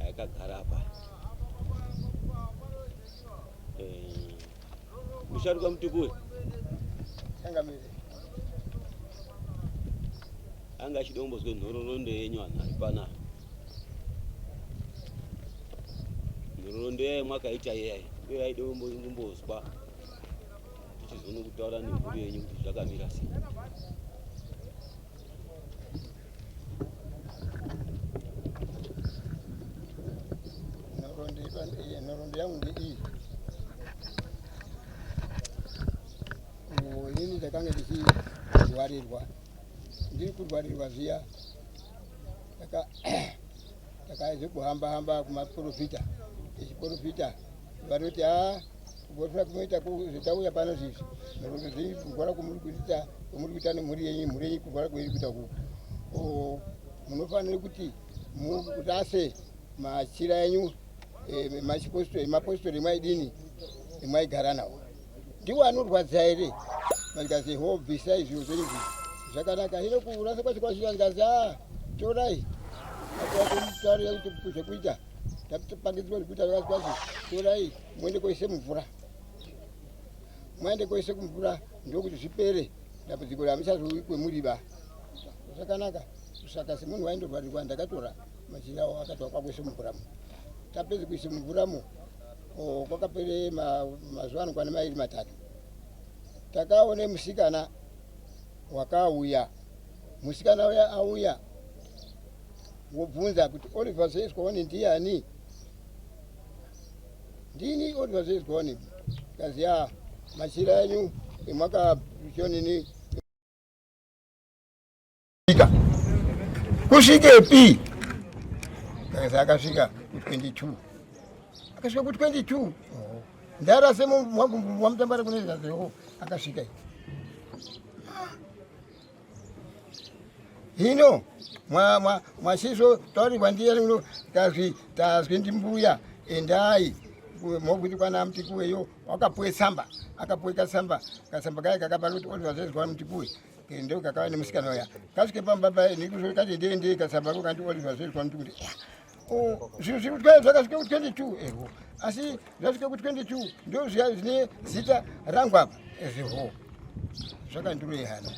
Aikagara apa. Eh. Musharuka mutukuri. Changamire. Anga chidombozwe nhororondo yenyu anhu ari pana. Nhororondo yayo mwakaita yayo. Iyo yaida kumbozwa. Tichizoona kutaura nemhuri yenyu kuti zvakamira sei. nhoroondo yangu ndeiyi ini ndakanga ndichirwarirwa ndiri kurwarirwa zviya takazvekuhamba hamba kumaporofita echiporofita vanoti a Kugodzera kunoita zvitauya pano izvi nekuti zvii kurwara kwomuri kuita kwomuri kuita nemhuri yenyu mhuri yenyu kurwara kweiri kuita kuku munofanira kuti murase machira enyu eh, machipostori mapostori emaidini emaigara nawo ndiwo anorwadza here mangazi ho bvisai zviro zvenyu zvi zvakanaka hino kurasa kwacho kwachira ngazi a ah, torai akoakutarira kuti zvekuita Ndakatopangidzwa kuti vakazwazi torai muende koise mvura. Muende koise kumvura ndokuti zvipere dambudziko ramuchazouyi kwemuriba. Zvakanaka kusaka semunhu waindorwarirwa ndakatora machira awo akatwa kwakuise mvura. Tapedza kuisa mvura mu kwakapere mazuva anokwana mairi matatu takaone musikana wakauya musikana uya auya Wobvunza kuti Oliver Zezwani ndiani? Ndini Oliver Zezwani. Kazi ya machira enyu emwaka chonini kusvikepi? Kazi akasvika ku 22 akasvika ku 22 ndara semu wangu wamutambara kune zvazewo akasvika hino mwasizvo taurirwa ndiyani uno tazwi tazwi ndimbuya endai mokuti kwana mtikuweyo wakapuwe tsamba akapuwe katsamba katsamba kaye kakapa kuti oti vazvezwa mtikuwe ndo kakava nemusikana uya kasvike pamba paye nekuzoti kati ndiendei katsamba ko kandi oti vazvezwa mtikuti Oh, zvinhu zviri kutya zvakasvika ku 22 eho asi zvasvika ku 22 ndo zviya zvine zita rangu apa eziho zvakandiroyehana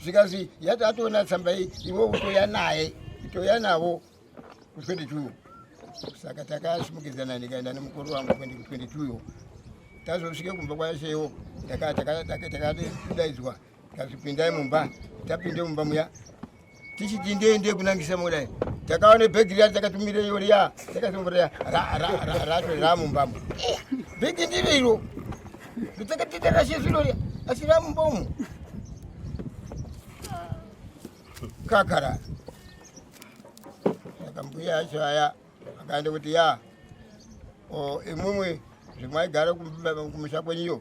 zvikazi yati atoona tsamba iyi iwe utoya naye toya navo ku 22 saka takasimukidzana ndikaenda nemukuru wangu kuende ku 22 yo tazosvike kumba kwashewo takadaidzwa Tazvipindai mumba, tapinde mumba muya tichiti ndei ndei kunangisa mudai takaona bhegi riya takatumira iyo riya takasongorera rato ramumbamo bhegi ndiro iro ndotakatika rashe zviro riya asi ramumba umu kakara saka mbuya yacho aya akaenda kuti ya imwimwi zvimwaigara kumusha kwenyu iyo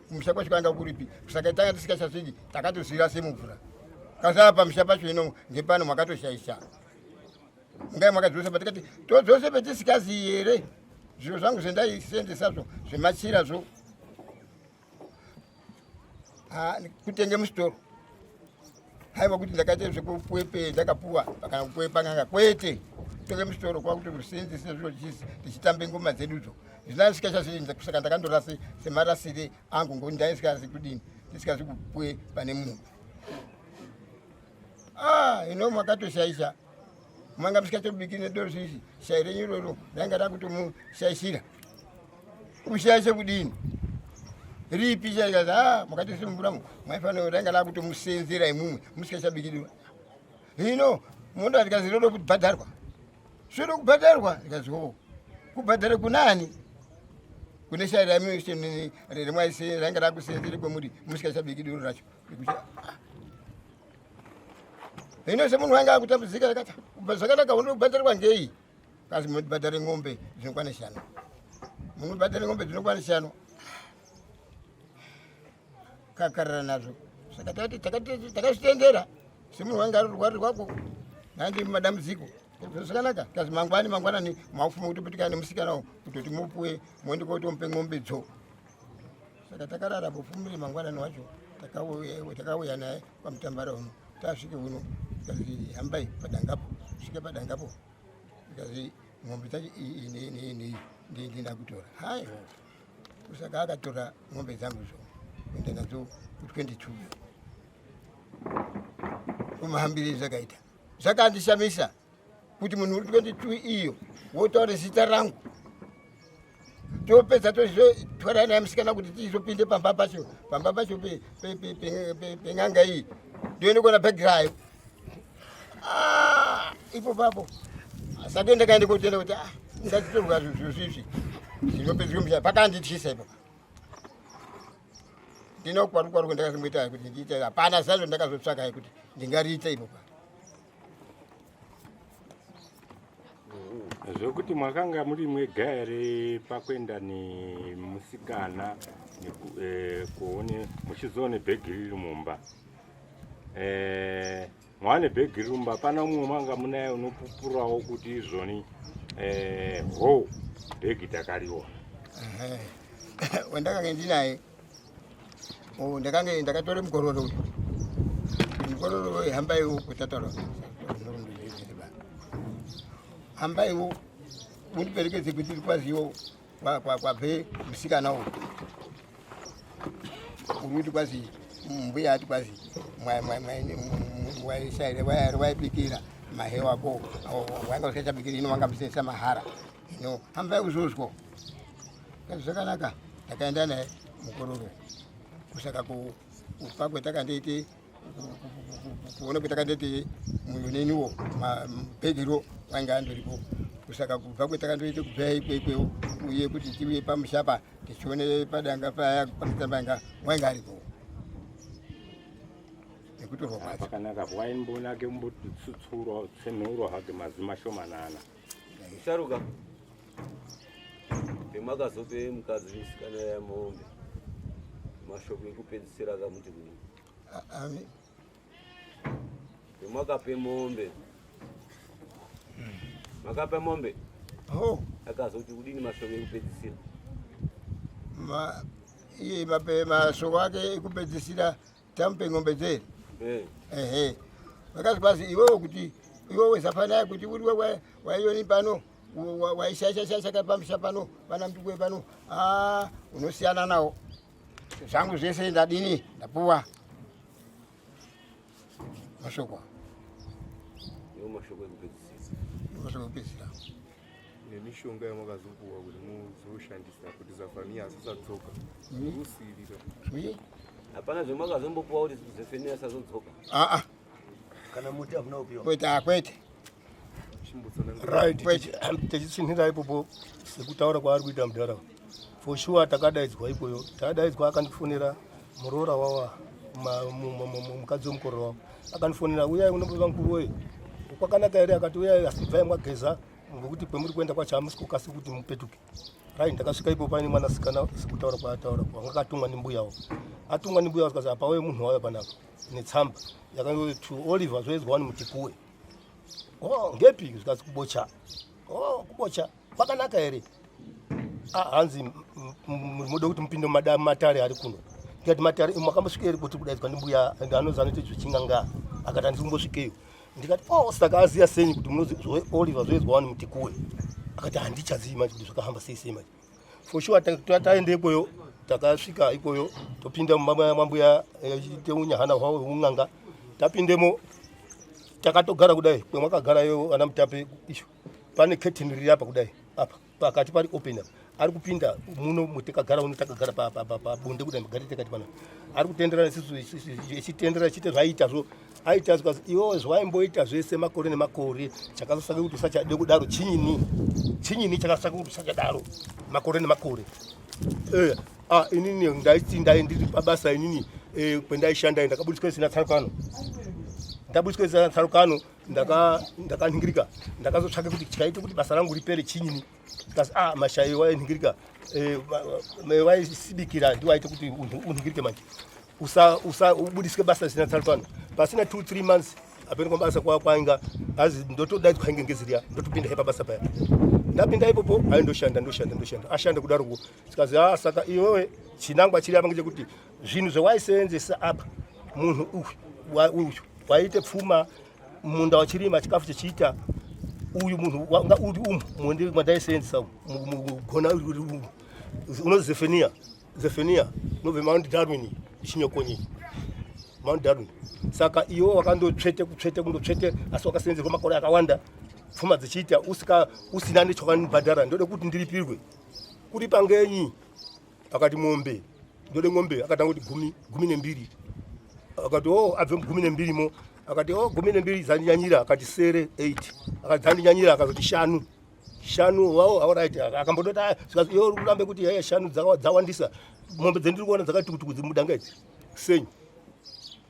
kumusha kwacho kwanga kuripi saka tanga tisikachasviki takatozvira semumvura kasava pamusha pacho ino ngepano makatoshaisha ngai makadzosa patikati todzose petisikazi here zviro zvangu zvendaisendesa zvo zvemachira zvo kutenge musitoro haiva kuti ndakaita zvekupwepe ndakapuwa pakana kupwepa nganga kwete tore musoro kwakuti rusenzi sezvo jisi tichitambe ngoma dzedudzo zvinasika chazvirinza kusaka ndakandorasi semarasire angu ngokuti ndaisikazi kudini ndisikazi kupwe pane munhu ah, ino makatoshaisha manga musikatobiki nedozvizi shai renyu iroro rainga rakutomushaishira kushaya chekudini ripi chaikazi a ah, makatisunungura mu maifanira ranga lakutomusenzera imumwe musikachabikidwa hino mondo atikazi rodo kubhadharwa zvoda kubhadharwa ikazi o kubhadhara kunani kune shaya rami remwaise ranga rakusenzere kwemuri musikachabikidiro racho hino semunhu wanga akutambudzika akati zvakadaka unoda kubhadharwa ngei Kasi munotibhadhara ng'ombe dzinokwana shanu. Munotibhadhara ng'ombe dzinokwana shanu. Kakarara nazvo. Saka tati takazvitendera semunhu wanga rwari rwako nandi madambudziko zvakanaka kazi mangwani mangwanani mafuma kutopetikana nemusikana wo kutoti mupuwe moende kotomupe ng'ombe dzo saka takarara pofumire mangwanani wacho takauya naye pamutambara uno tasvike uno ikazi hambai padangapo svike padangapo ikazi mombe dzacho iyi nei nei nei ndii ndina kutora haiwa kusaka akatora mombe dzangu zvo kuenda nadzo ku22 kumahambirei zvakaita zvakandishamisa kuti munhu uri 22 iyo wotaura zita rangu topedza tozotwara naye musikana kuti tizopinde pamba pacho pamba pacho pen'anga iyi ndoende kuona bhegi rayo ah, ipo papo sake ndakaende kotenda kuti ah, ndatitorwa zvozvizvi zvinopedziswa mushaya pakandityisa ipo ndinokwarukwaruko ndakasimboita kuti ndiite hapana zazvo ndakazotsvaka kuti ndingariite ipo pa zvekuti mwakanga muri mwega here pakuenda nemusikana eh, kuone muchizoone bhegi riri mumba eh, mwane bhegi riri mumba pana umwe mwanga munaye unopupurawo kuti izvoni eh, ho bhegi takariona wendakange ndinaye Oh, ndakange ndakatora mukororo uyu. Mukororo uyu hambai uko tatoro. Hambai uko. Mundiperekedze kuti kwaziwo kwa kwa kwa be musikana uyu. Uruti kwazi mbuya ati kwazi mwa mwa mwa mwa shaire waya waya pikira mahewa ko. Wanga ukaita pikira ino wanga bisesa mahara. no hambai kuzozwa kazi zvakanaka takaenda naye mukororo kusaka kufa kwetakandiiti kuona kwetakandiiti muyoneniwo mapegero kwanga andoripo kusaka kubva kwetakandoita kubvira ikwekweo uye kuti tiuye pamushapa tichione padanga paya pakitambanga wainga aripo nekutorwa kwacho pakanaka waimboonake kumbotsutsuro tsenhuro hake mazima shomanana Sharuka. Pemakazope mukadzi musikana yamombe. Mashoko ekupedzisira akamuti kudini? Ave. Pemakape mombe. Makape mombe. Oh. Akazoti kudini mashoko ekupedzisira? Ma iye mape mashoko ake ekupedzisira tamupe ng'ombe dzeri eh. ehe vakati basi iwewe kuti iwewe zafanaya kuti uriwe waioni pano waishaishashaishaka pamusha pano vana mtukwe pano ah, unosiyana nawo zvangu zvese ndadini ndapuwa mashoko mashoko ekupedzisira nemishonga yamakazopuwa kuti muzoshandisa kuti zafaniya asisatsoka rusirira hapana zvemakazombopuwa kuti zafaniya asazodzoka aa kana muti hakuna kupiwa kwete akwete right techitsinhira ipopo sekutaura kwaari kuita mudhara for sure takadaidzwa ikweyo takadaidzwa akandifonera muroora wawa mukadzi wemukororo wavo akandifonera uyai unombova mukuru wei kwakanaka here akati uyai asi bvai mwageza ngokuti kwemuri kuenda kwacho hamusi kukasi kuti mupetuke rai ndakasvika ipo paine mwanasikana sikutaura kwaataura kwanga akatumwa nembuyawo atumwa nembuyawo zikazi apauye munhu wauya panapa netsamba yakati to oliver zvoedzwa wani mutikuwe o oh, ngepi zikazi kubocha o oh, kubocha kwakanaka here ah, hanzi moda kuti mupinde matare ari kuno ndikati matare makambosvika here kuti kudaidzwa ndimbuya and anozi anoita zvechinganga akati handikumbosvikeyo ndikati o oh, saka aziya senyi kuti munozioliver zvoizwa wani mutikuwe akati handichazivi manje kuti zvakahamba sei sei manje for sure taenda ikweyo takasvika ikweyo topinda mambuya eh, teunya hana hwavo un'anga tapindemo takatogara kudai kwemwakagarayo ana mutape isho pane curtain riri apa kudai apa pakati pari open apa ari kupinda muno mutekagara uno takagara pabonde kudai magari tekati pana ari kutenderana isisu echitenderana chiite zvaiita zvo aita zvikas iwo zvaimboita zvese makore nemakore chakasasake kuti usachade kudaro chinyini chinyini chakasasake kuti usachadaro makore nemakore eh, ah, inini ndaiti ndai ndiri pabasa inini eh, kwendaishanda ndakabudiswa isina tsarukano ndabudiswa isina tsarukano ndakanhingirika ndaka ndakazotsvake kuti chaite kuti basa rangu ripere chinyini kasi a ah, mashayi wainhingirika eh, waisibikira ndi waite kuti unhingirike manje ubudisike basa risina tsarukano pasina two three months apeni kwabasa kwainga azi ndotodaidzwa hange ngeziriya ndotopinda hepa basa paya ndapinda ipopo ayi ndoshanda ndoshanda ndoshanda ashanda kudaroko sikazi a ah, saka iwewe chinangwa chiri apa ngechekuti zvinhu zvawaiseenzesa apa munhu uyu waiite pfuma munda wachirima chikafu chichiita uyu munhu wanga uri umu mundi mandaiseenzesa mugona uri umu unozi zefenia zefenia nobve mount darwin chinyokonyi mount darwin saka iwo wakandotsvete kutsvete kundotsvete asi wakaseenzerwa makore akawanda pfuma dzichiita usina nechakanibhadhara ndode kuti ndiripirwe kuripa ngenyi akati mombe ndode ngombe akatanga kuti gumi gumi nembiri akati o oh, abve mugumi nembiri mo akati o oh, gumi nembiri dzandinyanyira akati sere eight akati dzandinyanyira akazoti shanu shanu wao aorit akambodota yo kurambe kuti yaya shanu dzawandisa mombe dzendiri kuona dzakati kutuku dzimudangaidzi senyu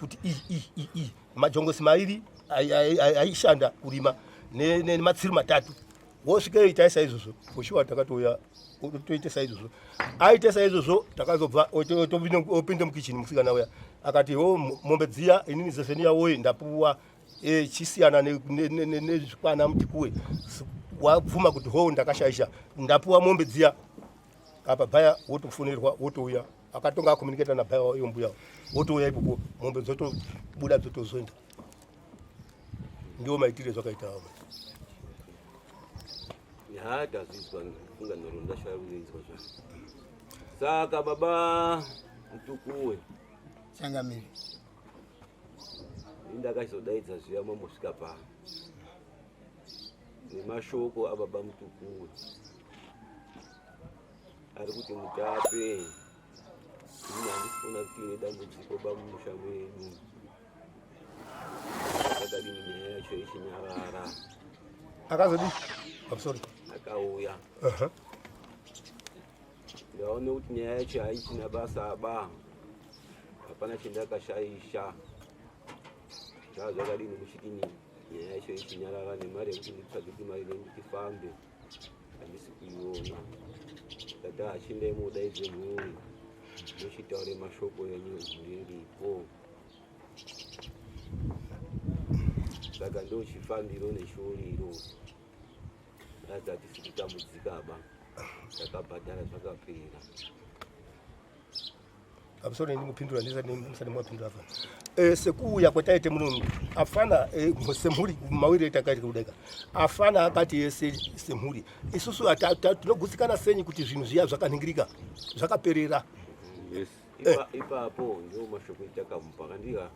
kuti majongosi mairi aishanda kurima nematsiri matatu wosvika itai saizvozvo foshuwa takatouya toite saizvozvo aite saizvozvo takazobva opinda mukichini musikana uya akati o mombe dziya inini zeseniya woye ndapuwa e, chisiyana nezvikwana mutikuwe wabvuma kuti ho ndakashaisha ndapuwa mombe dziya apa baya wotofonerwa wotouya akatonga akomuniketa na baba iyo mbuya wotouya ipopo mombe dzotobuda dzotozoenda ndiwo maitire zvakaita avo haatazvizwa funga nhoro ndashaya kuinzwa zva saka baba mutukuwe changamiri indakachizodaidza zviya mambosvika pa nemashoko ababa mutukuwe ari kuti mutape ini handisikuona kuti ine dambudziko pamusha mwedu akadini nyaya yacho ichinyarara akazodii I'm sorry. akauya Uh-huh. ndaone kuti nyaya yacho haichina basa ba hapana chendakashaisha zva zvakadini kusvikini nyaya yacho ichinyarara nemari yekuti nditsvage kuti mari nei ndichifambe Dada achindai mudaidze mhuri muchitaure mashoko enyu ndiripo saka ndochifambiro neshoriro ratati sikutambudzikaba takabhadhara zvakapera pamusoro ndimupindura ndisati musati mwapindura afana eh, sekuuya kwataite muno afana eh, semhuri mawiri etakaita kudeka afana akati yese eh, semhuri isusu tinogutsikana senyi kuti zvinhu zviya zvakaningirika zvakaperera ipapo ndo mashoko etakamupa kandika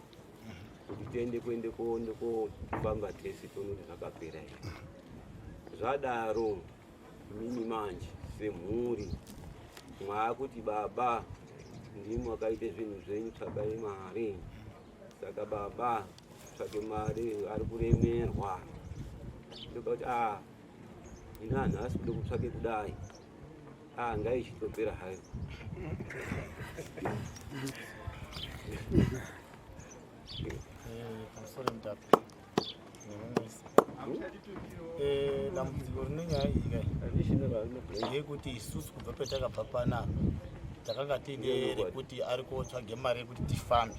kuti tiende kuende koende kofamba tese tonoona zvakapera izvi zvadaro Mimi manje semhuri mwaakuti baba ndimwe akaite zvinhu zvenyu tsvakai mari saka baba tsvake mari ari kuremerwa ndoka kuti a ah, ini anhu asi kude kutsvake kudai a ah, ngaichitopera hayo Eh, dambudziko rine nyaya iyi kai yekuti isusu kubva petakabva panapa takanga tiine rekuti ari kotsvage mari yekuti tifambe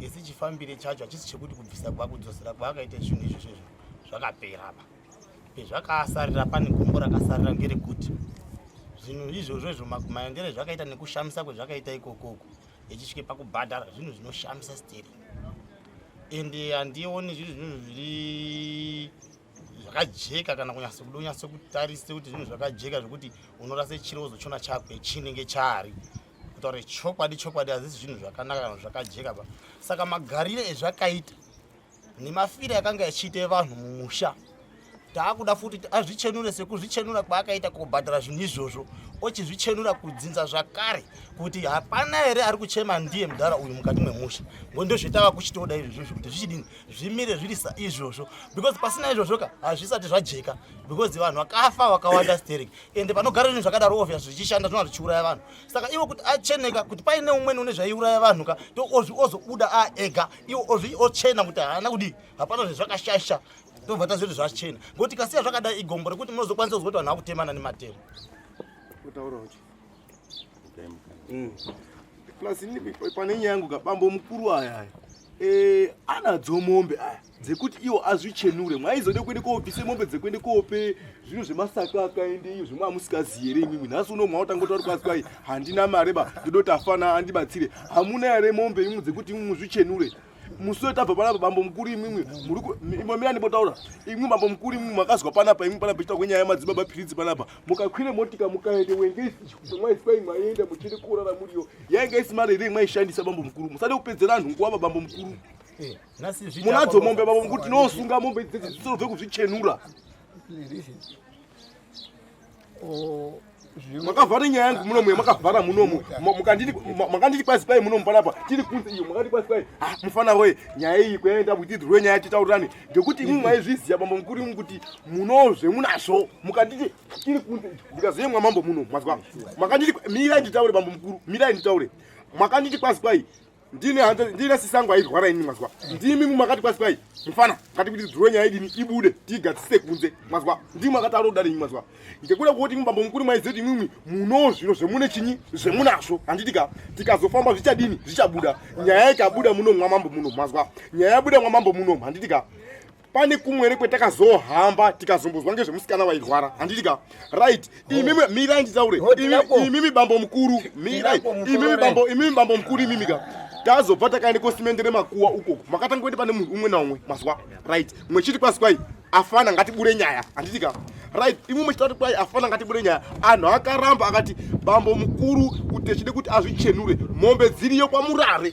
isi chifambire chacho hachisi chekuti kubvisa kwakudzosera kwaakaita zvinhu izvozvo izvo zvakapera pa pezvakasarira pane gombo rakasarira ngerekuti zvinhu izvozvo izvo maendere zvakaita nekushamisa kwezvakaita ikokoko ichisvike pakubhadhara zvinhu zvinoshamisa steering and handioni zvinhu zvinhu zviri zvakajeka kana kunyasa kuda unyasa kutarisa kuti zvinhu zvakajeka zvekuti unorasa chiro wozochiona chakwe chinenge chaari kutaura chokwadi chokwadi hazisi zvinhu zvakanaka kana zvakajeka pa saka magarire ezvakaita nemafira yakanga yachiita vanhu mumusha taakuda futi kuti azvichenure sekuzvichenura kwaakaita kubhadhara zvinhu izvozvo ochizvichenura kudzinza zvakare kuti hapana here ari kuchema ndiye mudhara uyu mukati memusha ngo ndozvetava kuchitoda izvozvo kuti zvichidini zvimire zviri saizvozvo because pasina izvozvo ka hazvisati zvajeka because vanhu vakafa vakawanda sterek ende panogara zvinhu zvakadaro ovya zvichishanda zvinova zvichiuraya vanhu saka ivo kuti acheneka kuti paine umweni une zvaiuraya vanhu ka to ozvi ozobuda aega iwo ozvi ochena kuti haana kudii hapana zvezvakashasha tobva taziva kuti zvachena ngokuti kasiya zvakadai igombo rekuti munozokwanisa kuzwa kuti vanhu vakutemana nematemo mm. plus ini pane nyaya yangu kabambo mukuru aya aya eh, anadzo mombe aya dzekuti iwo azvichenure mwaizode kuende koobvise mombe dzekuende koope zvinhu zvemasaka akaende iyo zvimwe amusikaziere imimi nhasi uno mwaotanga kuti vari kwazi kwai handina mari ba ndodoti afana andibatsire hamuna yare mombe imwe dzekuti imwe muzvichenure musoe tabva panapa bambo mukuru imwimwi murikuimamira ndipotaura imwi bambo mukuru imwi makazwa panapa imwi panapa ichita kwenyaya yamadzibaba piridzi panapa mukakwire motika mukaende wenge isimaiswai maienda muchiri kurara muriyo yainge isimari here maishandisa bambo mukuru musade kupedzera anhu nguwava bambo mukuru eh, munadzo mombe bambo mukuru tinosunga mombe dzidzi dzisorove kuzvichenura makavhara nyaya yangu muno muye makavhara muno mu makanditi kwazi kwai muno mufana apa tiri kunze iyo makati kwazi kwai ah, mufana woye nyaya iyi kuyaenda kuti idzirwe nyaya titaurirane ngekuti imwe maizviziva mambo mukuru imwe kuti munozve munazvo mukanditi tiri kunze ndikazoyemwa mambo muno mazwa makanditi mirai nditaure mambo mukuru mirai nditaure makanditi kwazi kwai ndini hanzi ndina sisangu airwara ini mazwa ndimi mumakati kwasi kwai mufana kati kuti dhuro nyaya idini ibude tiigadzise kunze mazwa ndimi akati aroda renyu mazwa ngekuda kwoti imwe bambo mukuru maiziva kuti imwimwi muno zviro zvemune chinyi zvemunazvo handitika tikazofamba zvichadini zvichabuda nyaya ikabuda muno mwamambo muno mazwa nyaya yabuda mwamambo muno handitika pane kumwere kwetakazohamba tikazombozwa ngezvemusikana wairwara handiti ka right imimi mirai nditaure imimi bambo mukuru mirai imimi bambo imimi bambo mukuru imimi ka tazobva takaende kosimendere makuwa ukoko makatanga kuende pane munhu umwe naumwe mazwa right mwechiti kwasi kwai afana ngatibure nyaya handiti ka right imwe mwechitatu kwai afana ngatibure nyaya anhu akaramba akati bambo mukuru kuti echide kuti azvichenure mombe dziriyo kwamurare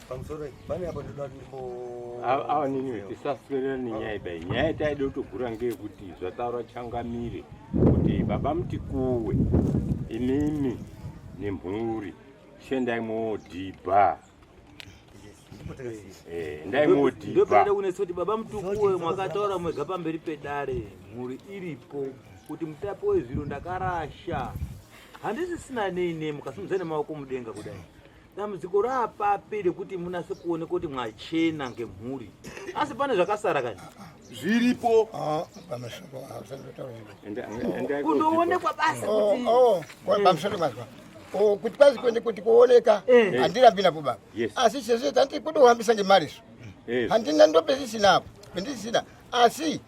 pamusoro pane apo ndoda awa nini tisaswerera nenyaya idai nyaya itaida kutogura ngeyekuti zvataura changamire kuti baba mutikuwe imimi nemhuri shendai moodhibha eh, ndai moodhibhaoenda kunetsa kuti baba mutukuwe mwakataura mwega pamberi pedare mhuri iripo kuti mutapi wezviro ndakarasha handisisina nei nei mukasimudza nemaoko mudenga kudai dambudziko raapapi rekuti munase kuoneka kuti mwachena ngemhuri asi pane zvakasara kani zviripo ah, kundoonekwa basa oh, oh, oh, kuti kwazi kuende kuti kuoneka eh. handirambi napo baba asi sezvo tandikudohambisa ngemari so eh. handina ndopezisinapo pendisina asi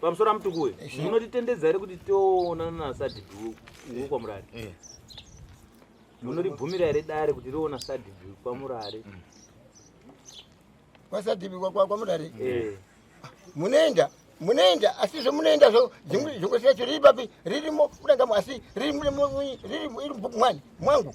Pamusoro amutuku uyu munotitendedza here kuti toonana nasadhidhi uku kwamurari munoribvumira here dare kuti riona sadhidhi kwamurari mm. kwasadhidhi kwamurari eh. ah, munoenda munoenda asi zvomunoenda zvo zvekusiya cho riri papi ririmo kudangamo asi riri mubhuku mwani mwangu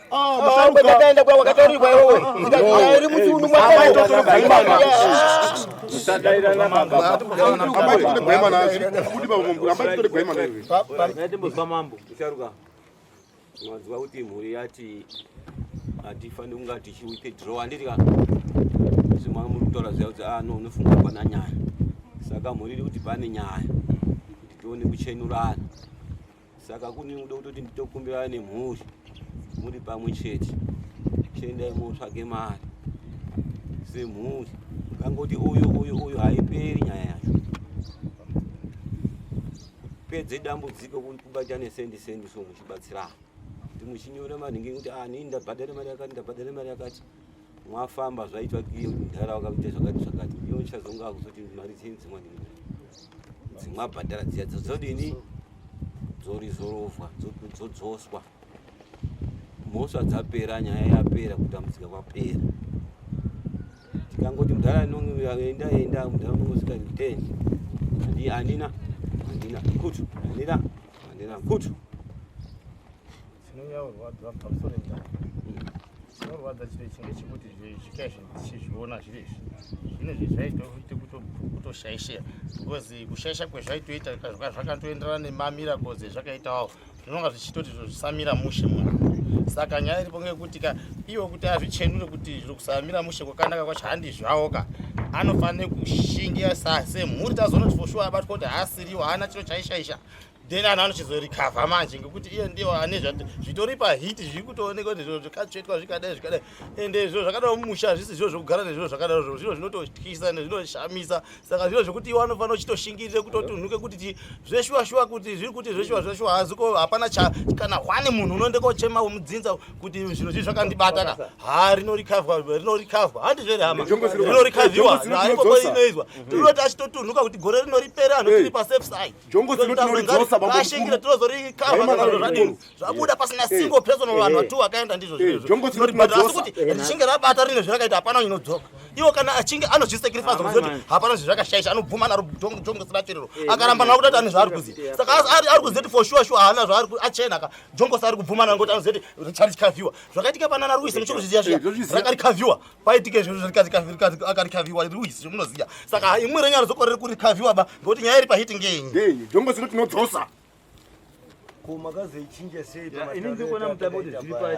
ndakaenda kwa wakataurirwa iwewe ndakairi muchiunu mwanzwa kuti mhuri yati hatifaniri kunga tichiwithdraw handiti ka zvimwa muri kutaura zviya kuti ano ah, unofunga pana nyaya saka mhuri iri kuti pane nyaya kuti tione kuchenurana saka kune kuda kutoti nditokumbirana nemhuri muri pamwe chete chiendai motsvage mari semhuri kangoti uyu uyu uyu haiperi nyaya yacho kupedze dambudziko kubatane sendi sendi so muchibatsirana kuti muchinyora manhingi kuti ah, nii ndabhadhare mari yakati ndabhadhare mari yakati mwafamba zvaitwa iyo mdhara wakaita zvakati zvakati iyo uchazonga akuzoti mari dzei dzimwani dzimwa bhadhara dziya dzodini dzorizorovwa dzodzoswa mhosva dzapera nyaya yapera kutambudzika kwapera tikangoti mdhara enda enda mdhara unongosvika ten andi andina andina kutu andina andina kutu chinorwadza chiro chinge chekuti zvikai zvichizviona zviri izvi zvine zvi zvaitoite kutoshaishira because kushaisha kwezvaitoita zvakatoenderana nemamira koze zvakaitawo zvinonga zvichitoti zvo zvisamira mushe munhu saka nyaya iripo ngekuti ka iwo kuti azvichenure kuti zviri kusamira mushe kwakanaka kwacho handizvawo ka anofanire kushingira sa semhuri tazonoti foshuwa abatwa kuti haasiriwo haana chiro chaishaisha then anhu anochizorecover manje ngekuti iye ndiwo ane zvitori pahit zviri kutooneka kuti zviro zvikatsvetwa zvikadai zvikadai ende zviro zvakadaro mumusha hazvisi zviro zvekugara nezviro zvakadaro zviro zviro zvinototyisa ende zvinoshamisa saka zviro zvekuti iwe anofanira uchitoshingirire kutotunhuke kuti zveshuwa shuwa kuti zviri kuti zveshuwa zveshuwa hazi ko hapana kana hwani munhu unoende kochema womudzinza kuti zviro zvii zvakandibata ka ha rinorikavwa rinorikavwa handi zvere hama rinorikaviwa haikokoinoizwa tinoti achitotunhuka kuti gore rinoripera anhu tiri pasafe side jongo dzino tinoridzosa bamboashingira tinozorecoveradini zvabuda pasina single person vanhu vatu vakaenda ndizvo zvinezvo asi kuti richinge rabata rine zvirakaita hapana inodzoka iwo kana achinge anozvisacrifice kuzoti hapana zvezvakashaisha anobvuma naro jongo sina tsviriro akaramba navo kutoti ane zvaari kuziva saka ari kuzoti for sure sure haana zvaari achena ka jongo saari kubvuma naro ngoti anozoti richarikaviwa zvakaitika panana ruise muchiri kuzviziva zviya rakarikaviwa paitike izvozvo zvarikazikaviwa ruisi zvomunoziva saka imwe renyaya rizokorere kurikaviwa ba ngokuti nyaya iri pahiti ngenyi ngenyi jongo zino tinodzosa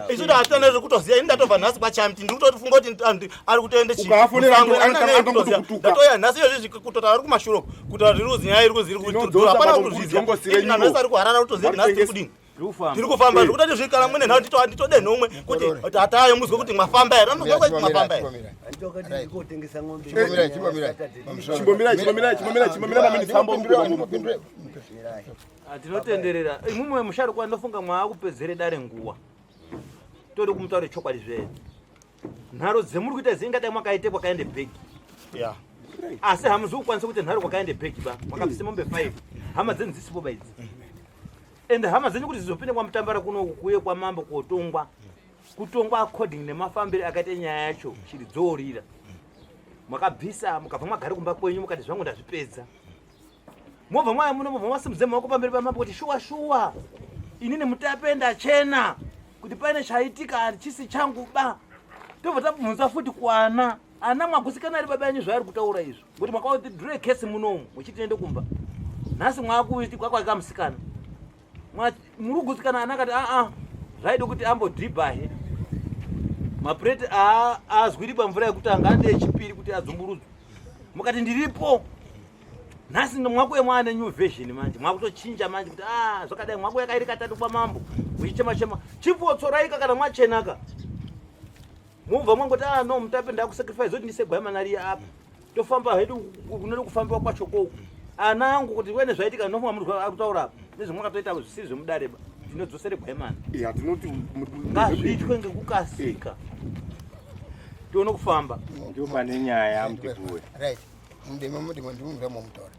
isu taatana zvekutoziva ini ndatobva nhasi kwachamti ndiri kutotifunga kuti ari kutoendechitatoya nhasi iyozvi kutota ari kumashuro kutaura zviri kuzi nyaya iri kuzi iri kutidura hapana kutozviziva nhasi ari kuharara kutoziva nhasi tiri kudini tiri kufamba zvekuti atizvikala mwene nhau nditode nhomwe kuti hatayo muzwe kuti mwafamba here anozwa kuti mwafamba here ah, tinotenderera imumwe musharukwa ndofunga mwaakupedzere dare nguwa tode kumutaure chokwadi zvedu nharo dzemuri kuita zii ingadai mwakaite kwakaende bhegi yeah. asi hamuzi kukwanisa kuita nharo kwakaende bhegi ba mwakabvise mombe five hama dzenyu dzisipo ba idzi ende hama dzenyu kuti zizopinde kwamutambara kuno kuye kwamambo kotongwa kutongwa according nemafambiro akaita nyaya yacho shiri dzoorira mwakabvisa mukabva mwagari kumba kwenyu mukati zvangu ndazvipedza mobva mwaya muno mobva masimudze maoko pamberi pamambo kuti shuwa shuwa ini nemutape ndachena kuti paine chaitika hachisi changu ba tobva tabvunza futi kwana ana mwagusikana ari baba yanyu zvaari kutaura izvo kuti mwakauti dre kesi munomu muchiti nende kumba nhasi mwakuiti kwakwaika musikana murugutsikana ana akati aa zvaida kuti ambodhibhahe mapureti aazwiri pamvura yekutanga ande yechipiri kuti adzumburudzwe mukati ndiripo nhasi mwakuye mwaane new version manje mwakutochinja manje kuti a zvakadai mwaku yakairi katatu kwamambo muchichema chema chipotsoraika kana mwachenaka mubva mwangoti a no mutape ndakusacrifice zoti ndisegwai manariya apa tofamba hedu kunode kufambiwa kwacho ko ana angu kuti wene zvaitika nofunga munhu ari kutaura apa nezvamwakatoita zvisiri zvemudare ba tinodzosere gwemana ya tinoti ngazviitwe ngekukasika tione kufamba ndiyo pane nyaya mudhibhuwe right mudemo mudemo ndimumuremo mutora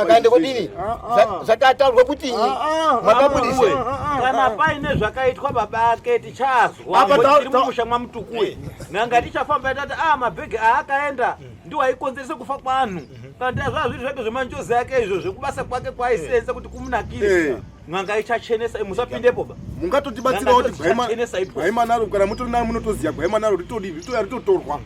akaenda kudini zvakataurwa kuti makabudiwe kana paine zvakaitwa baba ake tichazwamusha mwamutukue nanga tichafamba tati a mabhegi aakaenda ndiwo aikonzeresa kufa kwanhu kana tia zvaa zviri zvake zvemanjozi ake izvo zvekubasa kwake kwaaisenza kuti kumunakirisa n'anga ichachenesa musapindepo ba mungatotibatsirawo kuti gwaimanaro kana mutori nayo munotoziva gwaimanaro ritodivi ritoya ritotorwa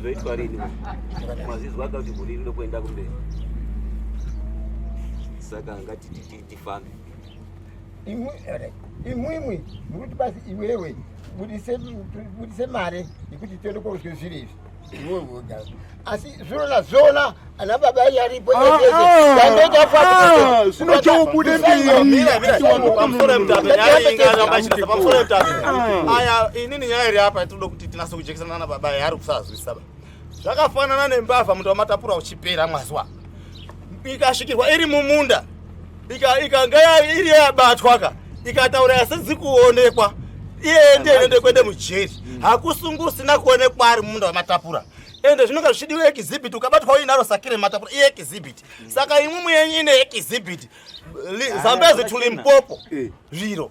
zvoitwa rini mazizwa akati guri rino kuenda kumberi saka ngati tifambe imwimwi mukuti basi iwewe budise mare yekuti tiende koudzwe zviri izvi asi zvinona zvona ana baba ai aripo unochaubude aya inini nyaya iri apa tinoda kuti tinase kujekesana nana baba ai ari kusazwisaba zvakafanana nembavha muto wamatapura uchipera mwaziwa ikasvikirwa iri mumunda ikanga iri yabatwa ka ikataura yasizi kuonekwa iye ndiye inoende kuende mujeri mm. hakusungu usina kuonekwa ari mumunda wematapura ende zvinonga zvichidiwa ekizibhiti ukabatwa uinaro sakire matapura iye ekizibhiti mm. saka imwe muyenyu ine ekizibhiti ah, zambezi tulimpopo eh. zviro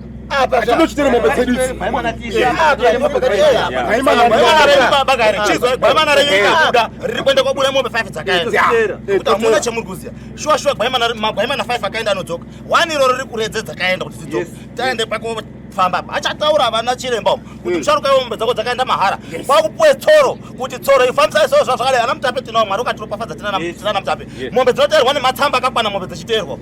tinochitera mombe dzedu idzigwaimana renyikabuda riri kuenda kwabuda mombe 5 dzakaenda kuti hamuna chemuri kuziva shuwa shuwa magwaimana 5 akaenda anodzoka one iroro riri kuredze dzakaenda kuti dzidzoka taende pako famba achataura vana chiremba umu kuti musharuka mm. yombe dzako dzakaenda mahara kwakupuwe tsoro kuti tsoro ifambisai soo zvazvakadai ana mutape tinawo mwari ukatiropafadza tinana mutape mombe dzinoteerwa nematsamba akakwana mombe dzechiteerwa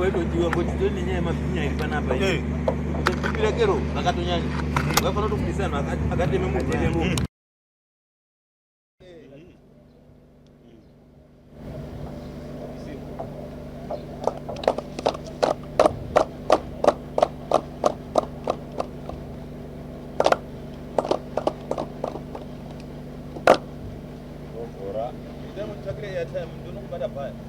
waitodiwa ngoti tiri nenyaya yemabhinya iri panapa ipira kero vakatonyanya vaifanira kutobudisa vanhu akateme muvhenemo Thank you.